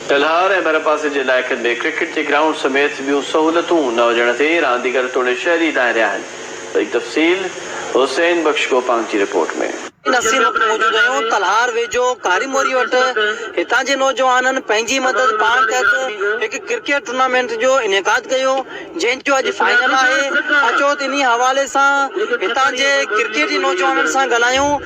ٽلهار ۽ ڀرپاسي جي علائقن ۾ ڪرڪيٽ جي گرائونڊ سميت ٻيون سهولتون نه هجڻ تي رانديگر توڙي شهري دانهريا آهن وڌيڪ تفصيل حسين بخش گوپانگ جي رپورٽ ۾. نسيم مک موجود هيون تلهار ويجهو ڪاري موري وٽ هتان جي نوجوانن پنهنجي مدد پاڻ تحت هڪ ڪرڪيٽ ٽورنامينٽ جو انعقاد ڪيو جنهن جو اڄ فائنل آهي اچو ته انهي حوالي سان هتان جي ڪرڪيٽي نوجوانن سان ڳالهايون.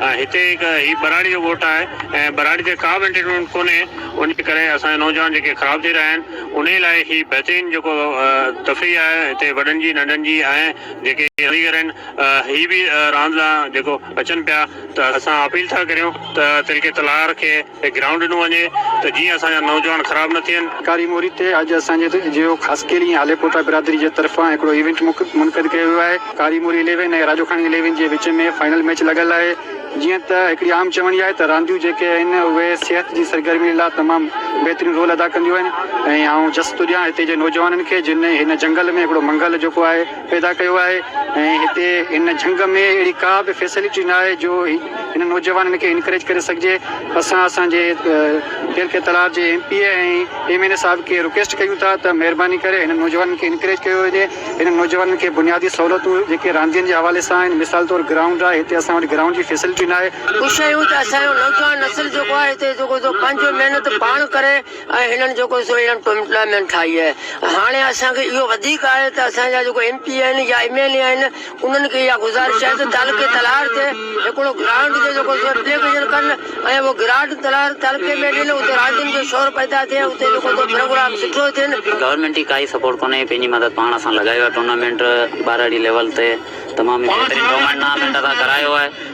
هتي هڪ هي ٻهراڙي جو ڳوٺ آهي ۽ ٻهراڙي تي ڪا به انٽرٽينمينٽ ڪونهي انهي ڪري اسان جا نوجوان جيڪي خراب ٿي رهيا آهن انهي لاء هي بهترين جيڪو تفريح آهي هتي وڏن جي ننڍن جي ۽ جيڪي ڪاريگر آهن هي به راند لاء جيڪو اچن پيا ته اسان اپيل ٿا ڪريون ته تلڪي تلهار کي تي گرائونڊ ڏنو وڃي ته جيئن اسان جا نوجوان خراب نه ٿين. ڪاري موري تي اڄ اسان جي جيو خاصخيلي ۽ هاليپوٽا برادري جي طرفان هڪڙو ايونٽ منعقد ڪيو ويو آهي. ڪاري موري اليون ۽ راڄوکاڻي اليون جي وچ ۾ فائنل ميچ لڳل آهي. جيئن ته هڪڙي عام چوڻي آهي ته رانديون جيڪي آهن اهي صحت جي سرگرمين لا تمام بهترين رول ادا ڪنديون آهن ۽ آئون جس ٿو ڏيان هتي جي نوجوانن کي جن هن جنگل ۾ هڪڙو منگل جيڪو آهي پيدا ڪيو آهي ۽ هتي هن جهنگ ۾ اهڙي ڪا به فيسلٽي نه آهي جو هنن نوجوانن کي انڪريج ڪري سگهجي اسان اسان جي پير کي تلار جي M P A ۽ M N A صاحب کي رڪيسٽ ڪيون ٿا ته مهرباني ڪري هنن نوجوانن کي انڪريج ڪيو وڃي هنن نوجوانن کي بنيادي سهولتون جيڪي راندين جي حوالي سان آهن مثال طور گرائونڊ آهي هتي اسان وٽ گرائونڊ جي فيسلٽي نه آهي. خوش آهيون ته اسان جو نوجوان نسل جيڪو آهي هتي جيڪو پنهنجو محنت پاڻ ڪري. ۽ هنن جيڪو سو اهڙن ٽوئمٽلامين ٺاهي آهي ۽ هاڻي اسان کي اهو وڌيڪ آهي ته اسان جا جيڪو ايم پي آهن يا ايم اين اي آهن انهن کي اها گذارش آهي ته تعلقي تلهار تي هڪڙو گرانٽ جو جيڪو سو اپليڪيشن ڪن ۽ اهو گرانٽ تلهار تعلقي ۾ ڏين اتي راندين جو شور پيدا ٿئي اتي جيڪو سو پروگرام سٺو ٿين. گورنمينٽ جي ڪائي سپورٽ ڪونهي پنهنجي مدد پاڻ اسان لڳايو آهي ٽورنامينٽ ٻارڙي ليول تي تمام ئي بهترين ٽورنامينٽ اسان ڪرايو آهي.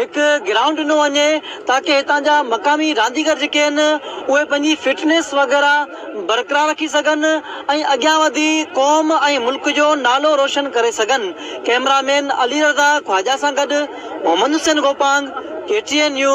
هڪ گرائونڊ ڏنو وڃي تاڪه هتان جا مقامي رانديگر جيڪي آهن اهي پنهنجي فٽنيس وغيره برقرار رکي سگهن ۽ اڳيان وڌي قوم ۽ ملڪ جو نالو روشن ڪري سگهن ڪئميرا مين علي رضا خواجا سان گڏ Muhammad Hussain Gopang K T N news